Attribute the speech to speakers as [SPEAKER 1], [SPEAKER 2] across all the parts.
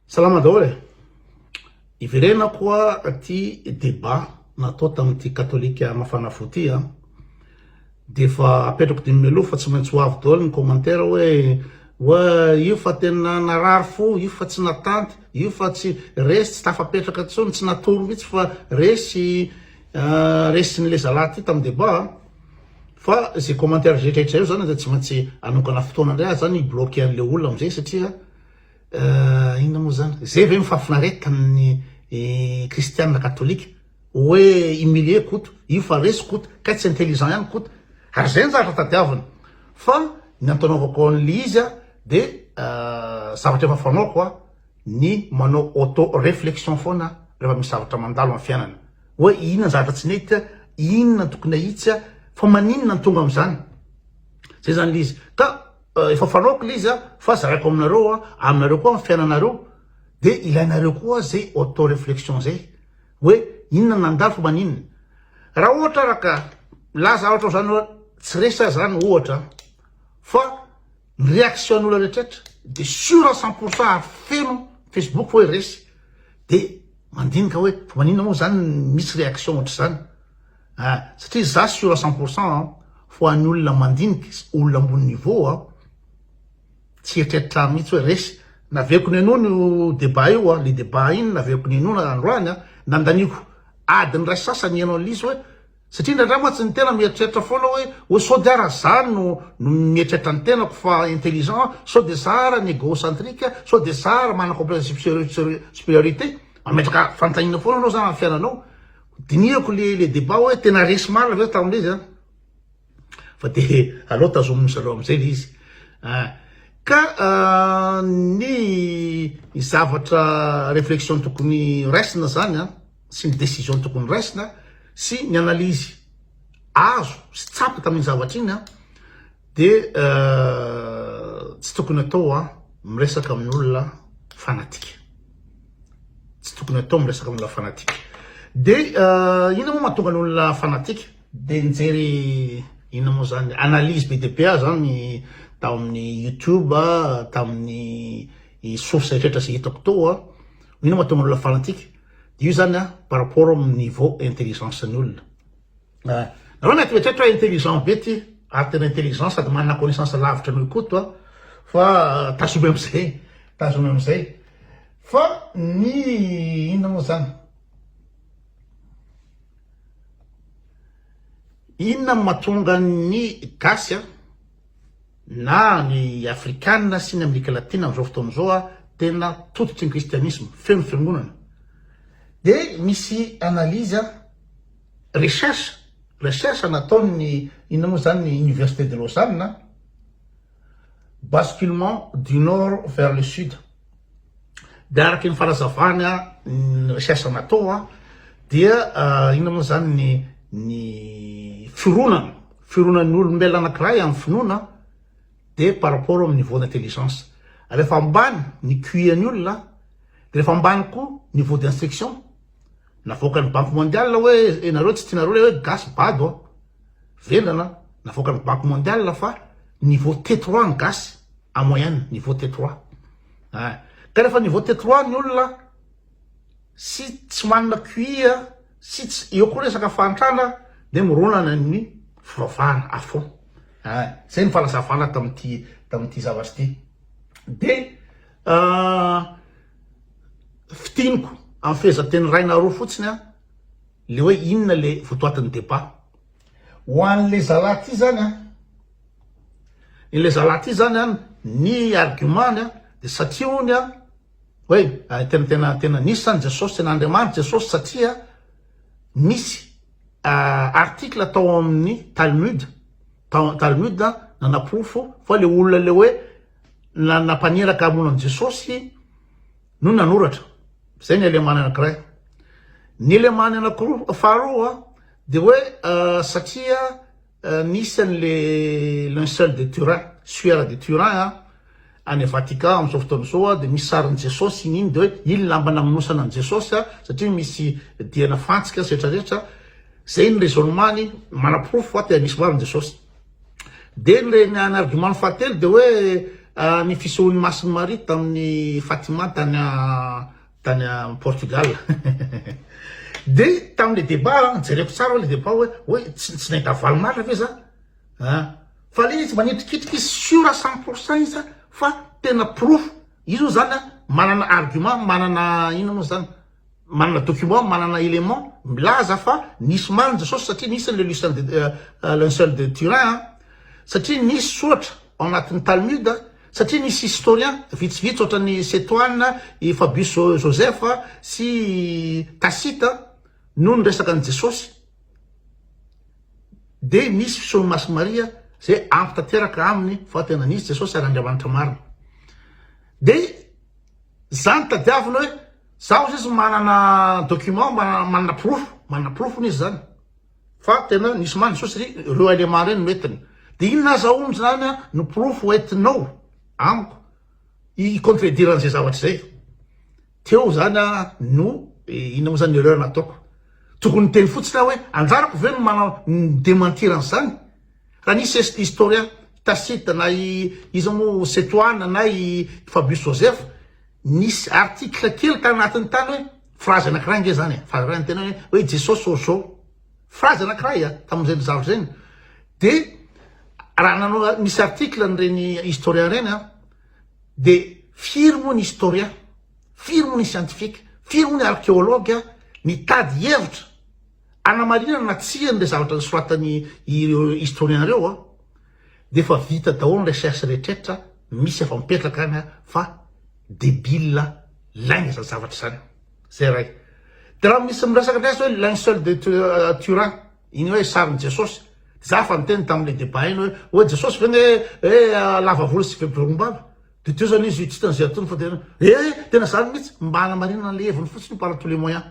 [SPEAKER 1] Salama daholo e! Hiverena koa ity débat natao tamin'ity katolika mafana fo ity an! Dia efa apetrako dimy mialoha fa tsy maintsy ho avy daholo ny commentaire hoe wa io fa tena narary fo, io fa tsy natanty, io fa tsy resy, tsy tafapetraka intsony, tsy natory mihitsy fa resy resin'ny le zalahy ity tamin'ny débat an! Fa izay commentaire rehetrarehetra eo zany dia tsy maintsy hanokana fotoana indray aho zany hi-bloquer an'ilay olona amin'izay satria. Eh, inona moa zany? Zay ve mifafinaretan'ny eh, kristianina katolika? Hoe humilier koto, io fa resy koto, kay tsy intelligent ihany koto. Ary zay ny zavatra tadiavina. Fa ny antanaovako an'ilay izy a, de eh, zavatra efa fanaoko a, ny manao auto réflexion foana rehefa misy zavatra mandalo amin'ny fiainana. Hoe inona ny zavatra tsy nety a, inona ny tokony ahitsy a, fa maninona ny tonga amin'izany? Zay zany ilay izy. Ka Efa fanaoko ilay izy fa zaraiko aminareo aminareo koa ny fiainanareo de ilainareo koa zay auto reflexion zay hoe inona nandalo fa maninona raha ohatra ara ka milaza ohatra zany hoe tsy resy aza zany ohatra fa ny réaction n'olona rehetraretra de sur cent pour cent feno facebook hoe resy de mandinika hoe fa maninona moa zany misy réaction ohatr'izany Eh, satria za sur à cent pour cent an, ho an'ny olona mandinika sy olona ambony niveau an, tsy eritreritra mihitsy hoe resy, naveiko nenoina io débat io an, le débat iny naveiko nenoina androany an, nandaniako adiny iray sy sasany ny analyse hoe, satria indraindray mantsy ny tena mieritreritra foana hoe, hoe sao dia ara za no no mieritreritra ny tenako fa intelligent, sao dia za ara n'egocentrique, sao dia za ara manana complexe de superiorité, mametraka fanontaniana foana anao zany amin'ny fiainanao, Dinihako le le debat hoe tena resy marina ve tao amle izy an? Fa de aleo tazomin'ny zareo amizay le izy an! Ka ny zavatra reflexion tokony raisina zany an! Sy ny decision tokony raisina sy ny analyse azo sy tsapa tamin'iny zavatra iny an! De tsy tokony atao a miresaka amin'olona fanatika. Tsy tokony atao miresaka amin'olona fanatika. De inona moa mahatonga an'olona fanatika? De nijery inona moa zany analyse be dia be aho zany tao amin'ny YouTube, tamin'ny source eretra zay hitako tao a, inona mahatonga an'olona fanatika? De io zany a par rapport amin'ny niveau intelligence-ny olona. Eh, nareo mety mieritreritra hoe intelligent be ty, ary tena intelligent sady manana connaissance lavitra an'io Koto a, fa eh, tazomy amizay, tazomy amizay. Fa ny inona moa zany? Inona no mahatonga ny gasy a, na ny afrikana sy ny Amerika Latina amin'izao fotoana izao a, tena tototry ny kristianisma, feno fiangonana. Dia misy analyse a, Recherche, recherche nataon' ny inona moa izany ny Université de Lausanne, Basculement du Nord vers le Sud. Dia araka ny fanazavany ny recherche natao dia inona moa izany ny ny fironana, fironany ny olombelona anankiray amin' ny finoana dia par rapport amin' ny niveau d' intelligence. Rehefa ambany ny QI an' ny olona dia rehefa ambany koa niveau d' instruction. Navoakan'ny banky mondial hoe enareo tsy tianareo le hoe gasy bado an. Vendrana navoakan'ny banky mondial fa niveau T3 ny gasy en moyenne niveau T3. Hein. Ah. Ka rehefa niveau T3 ny olona sy tsy manana QI sy tsy eo koa resaka fahantrana dia mironana ny fivavahana à fond. Hein. Zay ny fanazavana tamin'ity tamin'ity zavatra ity. Dia Ah, fitiniko amin'ny fehezanteny iray na roa fotsiny an, le hoe inona le votoatin'ny débat. Ho an'le zalahy ty zany an, ny le zalahy ty zany an, ny argument-ny an, de satria hono an, hoe tena tena tena nisy zany Jesosy, tena Andriamanitra Jesosy satria misy article tao amin'ny Talmud, tao Talmud nanapofo fa le olona le hoe nanampaniraka hamono an'i Jesosy no nanoratra. Izay ny alemany anankiray. Ny alemany anankiroa, faharoa dia hoe satria nisy an'le linceul de Turin, suaire de Turin any Vatican amin'izao fotoana izao dia misy sarin'i Jesosy iny iny dia hoe iny lamba namonosana an'i Jesosy satria misy diana fantsika setra rehetra. Izay ny raisonnement-ny, manaporofo fa tena nisy marina Jesosy. Dia ny reny an argument fahatelo dia hoe ny fisehoan'i Masin'i Maria tamin'i Fatima tany tany Portugal dia tamin'ilay débat an jereko tsara ilay débat hoe hoe tsy nahita valon'Atra ve za an fa ilay izy manitrikitrika izy sure cent pour cent izy fa tena porofo izy moa zany an manana argument manana inona moa zany Manana document, manana element milaza fa nisy maly ny Jesosy satria nisy le Lucien de Lincel de Turin a, satria nisy soratra ao anatin'ny Talmud, satria nisy historien vitsivitsy ohatran'i Setoine, i Fabius Josèphe sy i Tacite no niresaka an'i Jesosy. Dia nisy fisehoan'i Masy Maria zay ampy tanteraka aminy fa tena nisy Jesosy ary Andriamanitra marina. Dia zany tadiavina hoe Za ozy izy manana document mba manana porofo, manana porofo hono izy zany fa tena nisy maty soa satria reo élément reny no entiny. De inona aza hono zany no porofo entinao amiko i contredire an'zay zavatra zay. Teo zany no inona mo zany erreur nataoko. Tokony niteny fotsiny aho hoe anjarako ve no manao mi dementir an'zany? Raha nisy est historien Tacite na i iza mo Setoana na i Fabius Joseph nisy article kely tany anatiny tany hoe phrase anakiray nge zany e, phrase ray niteny hoe hoe Jesosy orzao, phrase anakiray a, tamin'izay nizavatra zay, de raha nanao nisy article an'ireny historien ireny a, de firy moa ny historien, firy moa ny scientifique, firy moa ny archéologue nitady hevitra anamarinana na tsia an'le zavatra nisoratan'ny ireo historien ireo a, de efa vita daholo ny recherche rehetrretra misy efa mipetraka any fa debile lainga zany zavatra zany zay ray de raha misy miresaka ndray azy hoe linceul de turin iny hoe sarin'i jesosy de za efa niteny tamin'le debat iny hoe hoe jesosy ve ne hoe lava volo sy veborombava de teo zany izy tsy tena zay atony fa tena eh tena zany mihitsy mba hanamarinana le heviny fotsiny par tous les moyens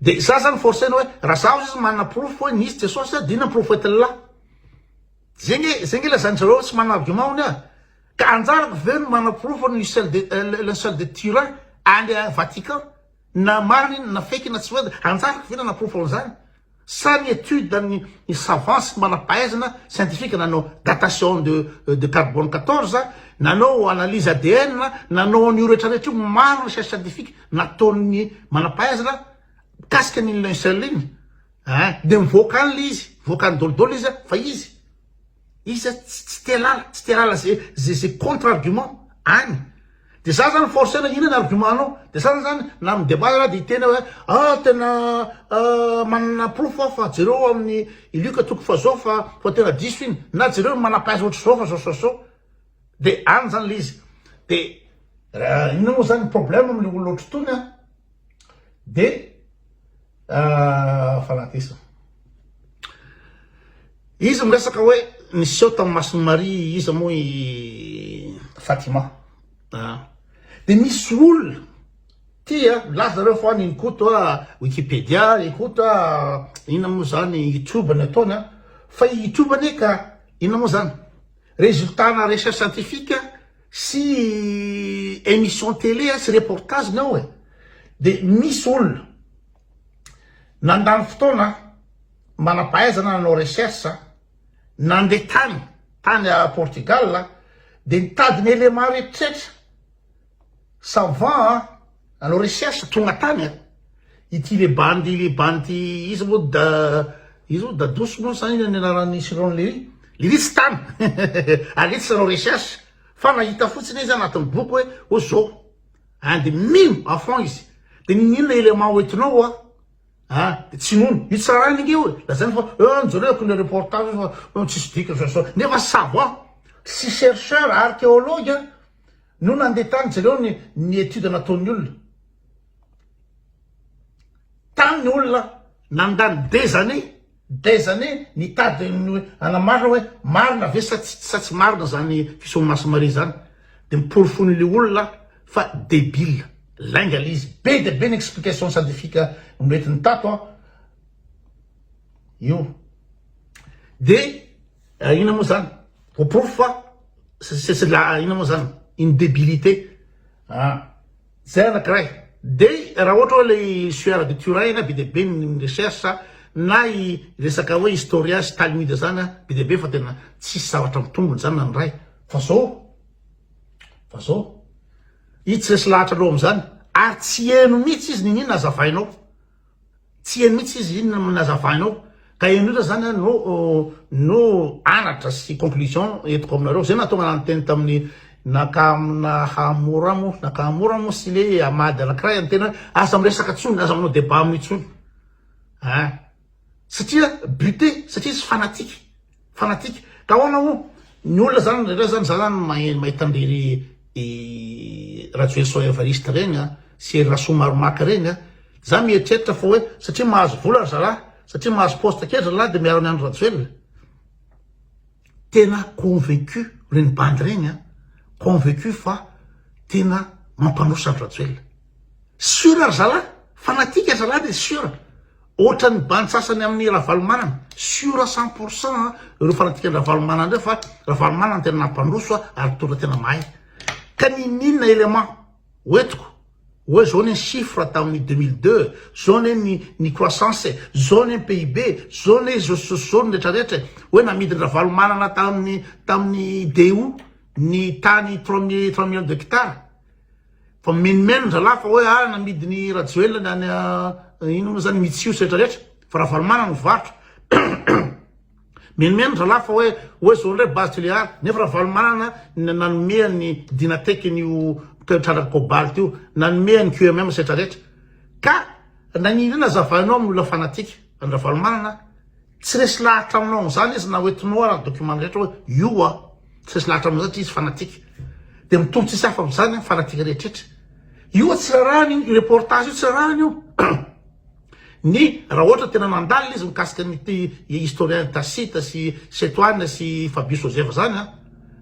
[SPEAKER 1] Dia za zany forcena hoe raha zaho sisa manana porofo hoe nisy Jesosy zany dia inona ny profetin'lah? Zay nge zay nge lazain-dry zareo tsy manana argument hono ah! Ka anjarako ve no manana porofo ny seul de linceul de Turin any Vatican? Na marina iny na fake iny na tsy marina, anjarako ve nanana porofo an'izany? Sa ny étude an'ny savants sy manam-pahaizana scientifique nanao datation de de carbone 14, nanao analyse ADN, nanao an'io rehetra rehetra io, maro ny recherche scientifique nataon'ny manam-pahaizana mikasika an'iny linceul iny, eh, dia mivoaka any ilay izy, mivoaka any daholo daholo izy fa izy. Iza tsy te lala, tsy te lala ze ze ze contre argument any de za zany force na inona ny argument anao de za zany na amin'ny debat za de hiteny hoe ah tena manana porofo aho fa jereo amin'ny i Luc toko fahazao fa fa tena diso iny na jereo ny manam-pahaiza ohatr'izao fa zao zao zao de any zany le izy de inona moa zany ny problème amin'le olona ohatr'itony an. Dia fanatesana. Izy miresaka hoe niseho tamin'ny mason'i Maria iza moa i Fatima. Dia misy olona tia milaza reo fa ny Koto Wikipedia, ny Koto inona moa zany YouTube ny ataony fa i YouTube anie ka inona moa zany résultat-na recherche scientifique sy emission télé a sy reportage nao e de misy olona nandany fotoana manampahaizana nanao recherche nande tany tany a Portugal de nitady ny élément rehetra savant a Anao recherche tonga tany a. Ity le bandy le bandy iza moa da iza moa dadosy moa sa ina ny anaran'i Chiron Léry? Léry tsy tany aleo tsy anao recherche fa nahita fotsiny izy anatin'ny boky hoe hoe zao and mino à fond izy de inona élément hoentinao hoa ah de tsy nono io tsarainy ange hoe lazainy fa eh mijereo akory le reportage fa tsisy dikany zao zao nefa savant sy chercheur archéologue no nandeha tany jereo ny ny étude nataon'ny olona tany ny olona nandany des années des années nitady ny hoe hanamarina hoe marina ve sa tsy sa tsy marina zany fisehoan'i Maso Maria zany de ny porofon'le olona fa debile lainga le izy be dia be ny explication scientifique noentiny tato an io de Eh inona moa zany? Ho porofo fa c'est c'est la inona moa zany? Une débilité. Ah zay anakiray. Dia raha ohatra hoe ilay sueur de Turin be dia be ny recherche na i resaka hoe historia sy talmud zany be dia be fa tena tsisy zavatra mitombina zany na ny iray. Fa zao fa zao i tsy resy lahatra loha amin'izany ary tsy heno mihitsy izy niniana azavainao Tsia mihitsy izy iny no nazavainao ka eny osa zany no no anatra sy conclusion entiko aminareo zay nahatonga anah niteny tamin'ny naka Nakamura mo Nakamura mo sy le Amady anakiray a niteny hoe aza miresaka tsony aza manao debat aminy tsony a satria bute satria izy fanatique Fanatique ka ahoana o? Ny olona zany rehetra zany za zany mahita an'irery Rajoelison Evariste ireny an, sy ery Rasoamaromaka ireny an, za mieritreritra fa hoe satria mahazo vola ry zalahy, satria mahazo poste kely ry zalahy de miaro an'i Andry Rajoelina? Tena convaincu ireny bandy ireny an, convaincu fa tena mampandroso Andry Rajoelina. Sur ry zalahy, fanatique ry zalahy de sur. Ohatran'ny bandy sasany amin'i Ravalomanana, sûr cent pour cent ireo fanatikan'i Ravalomanana ireo fa Ravalomanana no tena nampandroso ary mpitondra tena mahay. Ka nininona élément hoentiko hoe zao anie ny chiffre tamin'ny deux mille deux, zao anie ny ny croissance, zao anie ny PIB, zao anie zao sy zao ny rehetra rehetra e, hoe namidin-dRavalomanana tamin'ny tamin'ny DU ny tany trois mille trois millions d'hectares. Fa mimenomenona zalahy fa hoe ah namidiny Rajoelina ny any inona moa zany Mitsios rehetra rehetra fa Ravalomanana no varotra mimenomenona zalahy fa hoe hoe zao ndray base Tuléar nefa Ravalomanana no nanome an'i Dynatech an'io trandraka cobalt io nanome an'i QMM rehetra rehetra ka nagnino inona azavainao amin'ny olona fanatique an'i Ravalomanana Tsy resy lahatra aminao amin'izany izy na ho entinao ara ny document rehetra hoe io hoa. Tsy resy lahatra amin'izany satria izy fanatique. Dia mitory tsisy hafa amin'izany ny fanatique rehetrretra. Io hoa tsy rarahany io, io reportage io tsy rarahany io. Ny raha ohatra tena nandalina izy mikasika an'ity historien Tacite sy Setoane sy Fabio Sozeva izany an,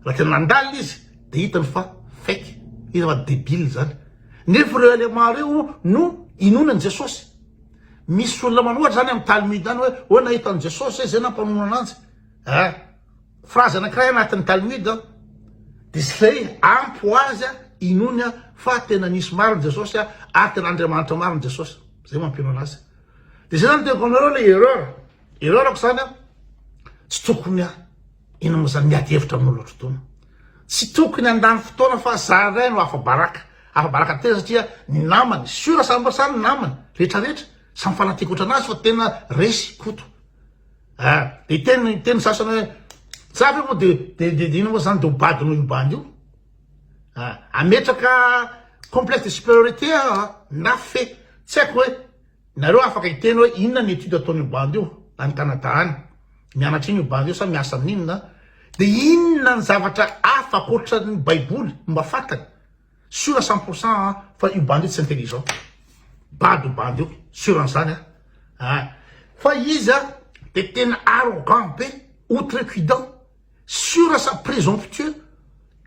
[SPEAKER 1] raha tena nandalina izy dia hitany fa fake, hitany fa debile izany. Nefa ireo éléments ireo no inoany an'i Jesosy. Misy olona manohatra zany amin'ny Talmud any hoe hoe nahita an'i Jesosy zay zay nampamono ananjy. Eh, frazy anankiray anatin'ny Talmud an. Dia izay ampy ho azy inoany an fa tena nisy marina Jesosy an ary tena Andriamanitra marina Jesosy. Zay mampino anazy. Dia zay zany teko anareo ilay erreur. Erreur ko zany an. Tsy tokony an. Inona moa izany miady hevitra amin'ny olona otrotona? Tsy tokony handany fotoana fa za indray no afa-baraka. Afa-baraka tena satria ny namany, siora samy mba samy namany, rehetra rehetra, samy fanatiako otrana azy fa tena resy koto. Ah, de hiteny hiteny ny sasany hoe za ve moa de de de inona moa izany de ho badinao io bandy io? Ah, ametraka complexe de supériorité ah, na fe, tsy haiko hoe Nareo afaka hiteny hoe inona ny étude ataon'io bandy io any Canada any? Mianatra ino io bandy io sa miasa amin'inona? Dia inona ny zavatra hafa ankoatran'ny baiboly no mba fantany? Sûr à cent pour cent an fa io bandy io tsy intelligent. Bado io bandy io, sûr an'izany an! An! Fa izy an dia tena arrogant be, outrecuidant, sure sa presomptueux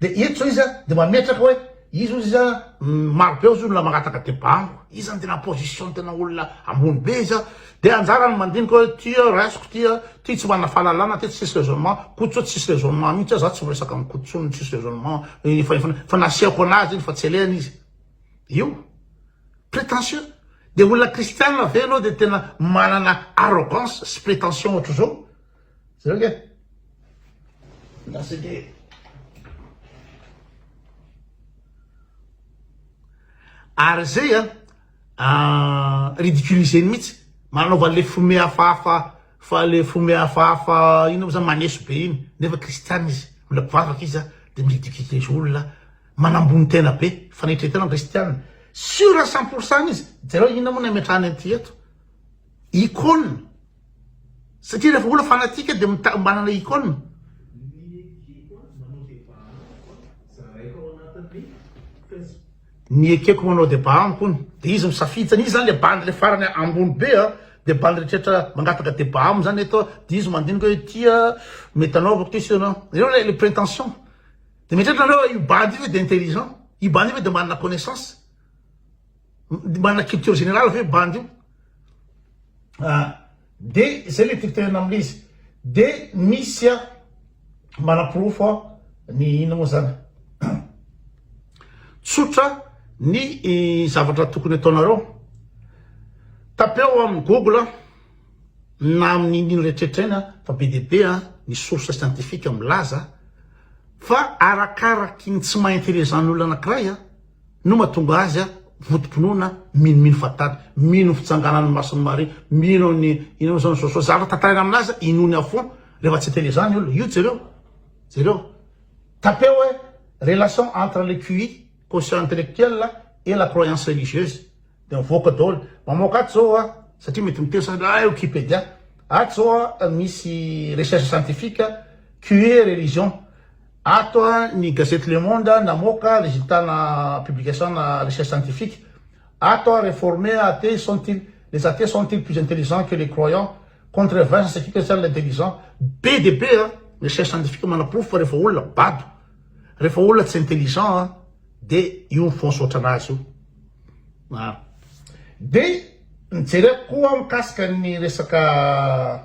[SPEAKER 1] de eto zao izy de mametraka hoe izy ozy izy maro be ozy olona mangataka deba amiko izy zany tena position tena olona ambony be izy de anjara ny mandinika hoe ty raisiko ty ty tsy manana fahalalana ty tsisy raisonnement koto zao tsisy raisonnement mihitsy aho za tsy miresaka amin'ny koto tsony tsisy raisonnement fa nasiako anazy iny fa tsy alehany izy io prétentieux de olona kristianina ve ianao de tena manana arrogance sy prétention ohatr'izao Jereo ange! Milaza ange! Ary izay an, ridiculiser-ny mihitsy, manaova an'ilay fo mihafahafa, fa le fo mihafahafa inona moa zany, maneso be iny, nefa kristiana izy, mbola mpivavaka izy an, dia mi-ridiculiser olona, manambony tena be, fanaitra tena ny kristiana, sur à cent pour cent izy, jereo inona moa no ametrahany an'ity eto, icône. Satria rehefa olona fanatique dia mita- manana icône. Ny ekeko manao débat amiko hono. Dia izy misafidy zany. Izy zany le bandy le farany ambony be a. Dia bandy rehetra mangataka débat aminy zany eto a. Dia izy mandinika hoe ity a mety anaovako ty sy ianao. Ianao le le prétention. Dia mieritreritra nareo hoe io bandy io ve dia intelligent? Io bandy io ve dia manana connaissance? Manana culture générale ve bandy io? Ah, de zay le tiako tenenina amle izy. De misy a manaporofo a ny inona moa zany? Tsotra ny zavatra tokony ataonareo. Tapeo amin'ny Google na amin'ny inona rehetrarehetra eny fa be dia be ny source scientifique milaza fa arakaraky ny tsy maha-intelligent ny olona anankiray No mahatonga azy votompinoana mino mino fahatany mino fitsanganan'ny mason'i Maria mino an'i inona zao ny soa soa zavatra tantaraina amin'azy inoany à fond rehefa tsy tena izany olona io jereo jereo tapeo hoe relation entre le QI quotient intellectuel et la croyance religieuse dia mivoaka daholo mamoaka ato zao a satria mety miteny sasany ah wikipedia ato zao a misy recherche scientifique QI et religion Ato ny gazety Le Monde namoaka reziltana publication-na recherche scientifique. Ato reformer athée sont-ils les athées sont-ils plus intelligents que les croyants? Contre vingt c'est qui que seul l'intelligent? Be dia be an! Ny recherche scientifique manaporofo fa rehefa olona bado, rehefa olona tsy intelligent an, dia io mifaonsotra anazy io an! Dia ny jereko koa mikasika ny resaka.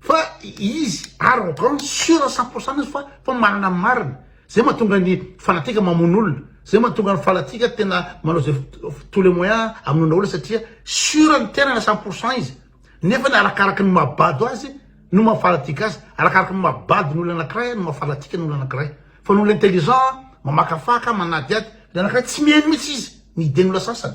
[SPEAKER 1] Fa izy ary en tout cas sûr à cent pour cent izy fa fa manana ny marina. Zay mahatonga ny fanatika mamono olona. Zay mahatonga ny fanatika tena manao zay tous les moyens hamonoana olona satria sûr ny tenany à cent pour cent izy. Nefany arakaraky ny maha bado azy no maha fanatika azy. Arakaraky ny maha bado ny olona anakiray no maha fanatika ny olona anakiray. Fa ny olona intelligent mamakafaka, manadihady, ny anakiray tsy mihaino mihitsy izy ny idean'ny olona sasany.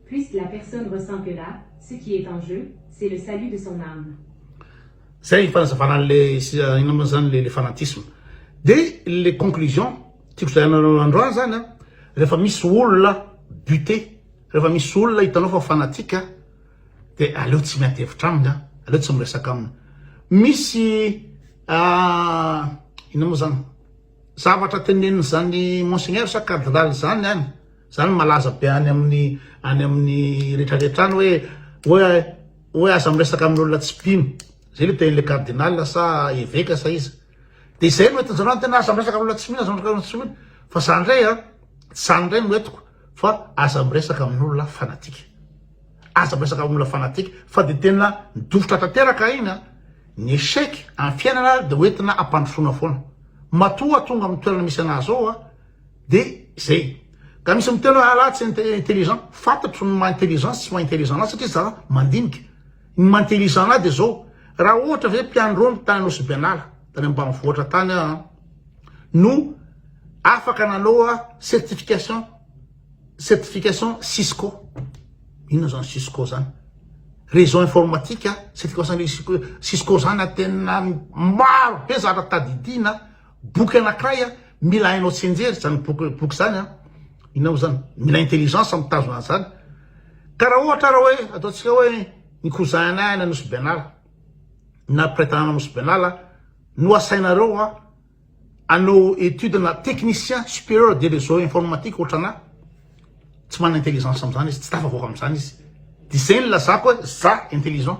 [SPEAKER 2] Puisque la personne ressent
[SPEAKER 1] que là, ce qui est en jeu, c'est le salut de son âme. Zay ny fanazavana an'ilay inona moa zany le fanatisme. De le conclusion tiako zarainareo androany zany a, rehefa misy olona buté, rehefa misy olona hitanao fa fanatique a, de aleo tsy miady hevitra aminy a, aleo tsy miresaka aminy. Misy inona moa zany zavatra tenenin'izany monseigneur sa cardinal zany any, Zany malaza be any amin'ny any amin'ny retraretra any hoe hoe hoe aza miresaka amin'olona tsy mpino. Zay le tenin'le cardinal sa eveka sa iza. De zay no etinjareo ny tena aza miresaka amin'olona tsy mino aza miresaka amin'olona tsy mino. Fa zany ndray a tsy zany ndray no entiko fa aza miresaka amin'olona fanatika. Aza miresaka amin'olona fanatika fa de tena dofitra tanteraka iny a ny echec amin'ny fiainana de ho entina ampandrosoana foana. Matoa tonga amin'ny toerana misy anah zao a. Dia zay. Ka misy miteny hoe alah tsy intelligent, fantatro ny maha intelligent sy tsy maha intelligent anazy satria zah mandinika. Ny maha intelligent anahy dia zao, raha ohatra ve mpianrony tany Anosibianala, tany ambanivohitra tany aho an, no afaka nanao certification, certification Cisco, inona zany Cisco zany? réseau informatique, certification Cisco zany tena maro be zavatra tadidiana, Boky anakiray a, mila hainao tsenjery zany boky boky zany a, inona moa zany, mila intelligence mitazona an'zany, karaha ohatra raha hoe ataontsika hoe ny kozahinay any Nosy Benala na mpiray tanàna Nosy Benala no asainareo a anao étude na technicien supérieur des réseaux informatiques ohatran'ahy, tsy manana intelligence am'zany izy, tsy tafavoaka am'zany izy, de zay nilazako hoe za intelligent.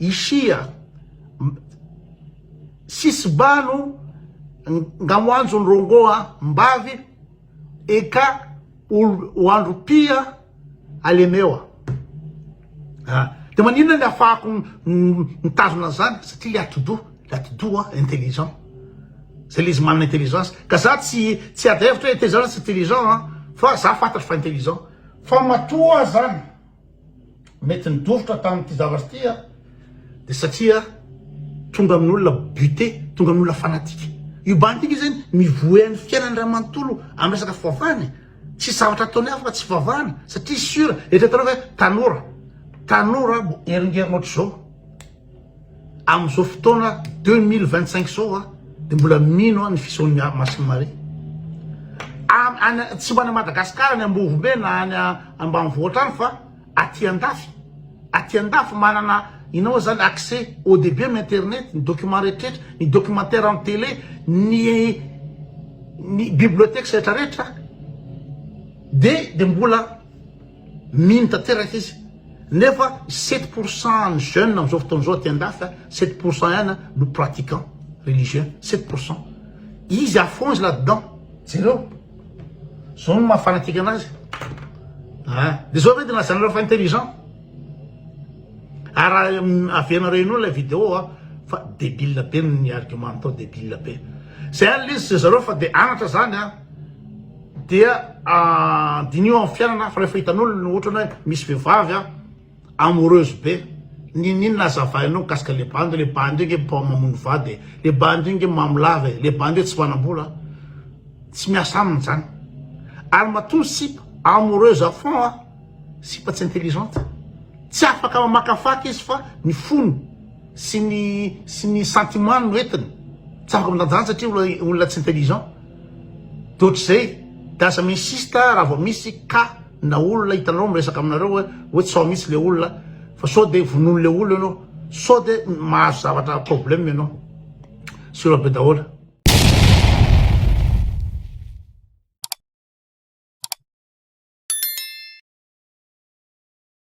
[SPEAKER 1] Ishia, Sisbano, nga ho anjo ny rongô a mbavy e ka ho andro pia a lemewa. Ah, dia maninona ny afahako mitazona an'izany? Satria le atidoha, le atidoha intelligent. Zay le izy manana intelligence. Ka za tsy tsy ady hevitra hoe intelligent na tsy intelligent an, fa za fantatro fa intelligent. Fa matoa zany. mety nidositra tamin'ity zavatra ity aho dia satria tonga amin'olona buté, tonga amin'olona fanatika. Io bandy ity izany mivoe an'ny fiainany iray manontolo amin'ny resaka fivavahana e. Tsy zavatra ataony hafa fa tsy fivavahana satria sura, eritreretanao ve tanora, tanora heringerina ohatr'izao. Amin'izao fotoana deux mille vingt cinq zao a de mbola mino aho ny fisehoan'i Masin'i Maria any tsy ho any Madagasikara any Ambovombe na any ambanivohitra any fa aty andafy aty andafy manana inao zany accès haut debut amin'ny internet ny document rehetrarehetra ny documentaire amin'ny télé ny ny bibliothèque rehetrarehetra de de mbola Mino tanteraka izy. Nefa sept pour cent ny jeune amzao fotoana zao aty andafy a, sept pour cent ihany no pratiquant religieux, sept pour cent. Izy à fond izy là dedans. Jereo. Zao no maha fanatique anazy. Ah, de zao ve de nilazanareo fa intelligent? Ary avenareo inoa ilay vidéo a, fa débile be ny argument natao, débile be. Zay ary izy sy zareo fa de anatra zany a. dia diniho amin'ny fiainana fa rehefa hitan'olona no ohatrany hoe misy vehivavy a amoureuse be n'inon'inona azavainao mikasika le bandy le bandy io nge mpo mamono vady e le bandy io nge mamo lava e le bandy io tsy manam-bola tsy miasa aminy zany ary matoa ny sipa amoureuse à fond a sipa tsy intelligente tsy afaka mamakafaka izy fa ny fony sy ny sy ny sentiment no entiny tsy afaka mitandrina satria olona tsy intelligent Toetry zay de aza mi-insiste raha vao misy cas na olona hitanareo miresaka aminareo hoe hoe tso mitsy le olona fa sao de vonoiny le olona enao sao de mahazo zavatra problème enao sur be daholy.